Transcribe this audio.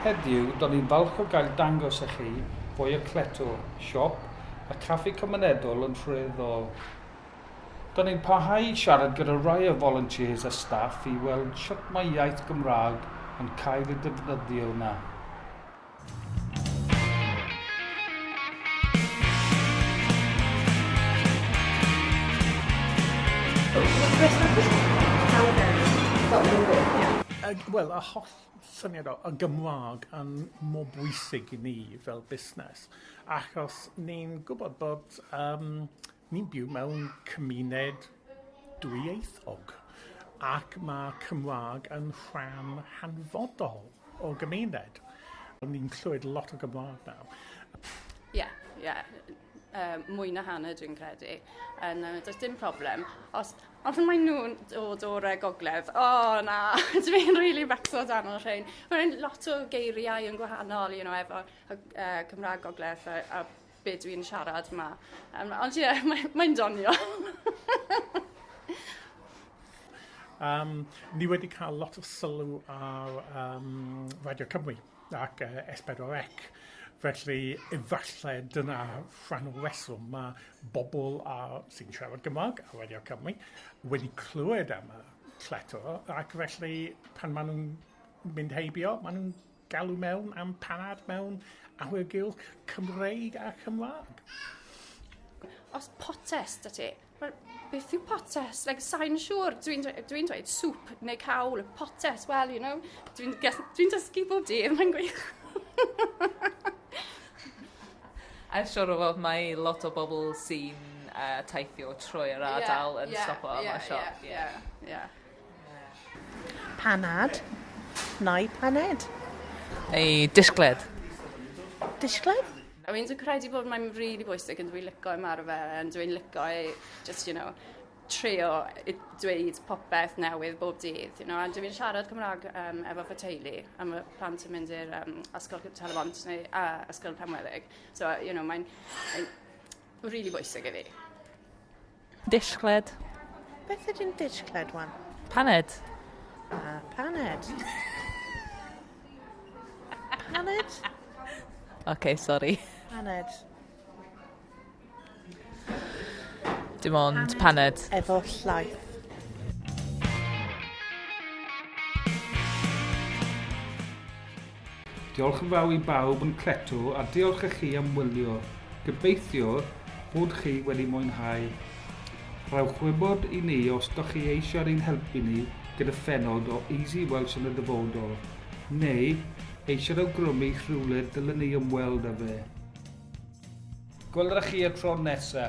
Heddiw, do'n i'n falch o gael dangos i chi fwy o Cleto, siop a chaffi cymunedol yn Rhyl-Ddôl. Do'n i'n parhau i siarad gyda rai o volunteers a staff i weld sut mae iaith Gymraeg yn cael ei defnyddio yna. Wel, y holl syniad o y Gymraeg yn mor bwysig i ni fel busnes achos ni'n gwybod bod yym Ni'n byw mewn cymuned dwyieithog ac mae Cymraeg yn rhan hanfodol o'r gymuned. Ni'n clywed lot o Gymraeg nawr. Ie, ie. Yy mwy na hanner dwi'n credu. Yn yy does dim problem. Os os maen nhw'n dod o'r yy gogledd, o na, dwi'n rili becso dan y rhein. Mae rhein lot o geiriau yn gwahanol, you know, efo yy Cymraeg gogledd a a be dwi'n siarad ma. Um, ond ie, yeah, mae'n mae donio. um, ni wedi cael lot o sylw ar um, Radio Cymru ac uh, S4C. Felly, efallai dyna rhan o reswm. Mae bobl a, sy'n siarad Gymraeg a Radio Cymru wedi clywed am y cleto ac felly pan maen nhw'n mynd heibio, maen nhw'n Galw mewn am panad mewn awyrgylch Cymreig a Chymraeg. Os potes da ti, wel, beth yw potes? Like, sain siŵr, dwi'n dwi dweud sŵp neu cawl, potes, well, you know, dwi'n dwi dysgu bob dydd, mae'n gwych. I'm sure o fod mae lot o bobl sy'n uh, taithio trwy yr ardal yeah, yn yeah, stopo yeah, am y siop. Yeah, yeah, yeah. Panad neu paned? Neu disgled? Disgled? I mean, dwi'n credu bod mae'n really bwysig yn dwi'n licio ymarfer yn dwi'n licio e, just, you know, trio dweud popeth newydd bob dydd. You know, a dwi'n siarad Cymraeg um, efo fy teulu a mae plant yn mynd i'r um, ysgol Talabont neu a ysgol Penweddig. So, you know, mae'n really bwysig i fi. Dishgled. Beth ydy'n dishgled, wan? Paned. Ah, paned. paned? OK, sori. Paned. Dim ond paned. paned. Efo llaeth. Diolch yn fawr i bawb yn cleto a diolch i chi am wylio. Gobeithio bod chi wedi mwynhau. Rhowch wybod i ni os da chi eisiau'r un helpu ni gyda phenod o Easy Welsh yn y dyfodol, neu eisiau'r awgrymu rhywle dylen ni ymweld â fe. Gwelwch chi y tro nesa!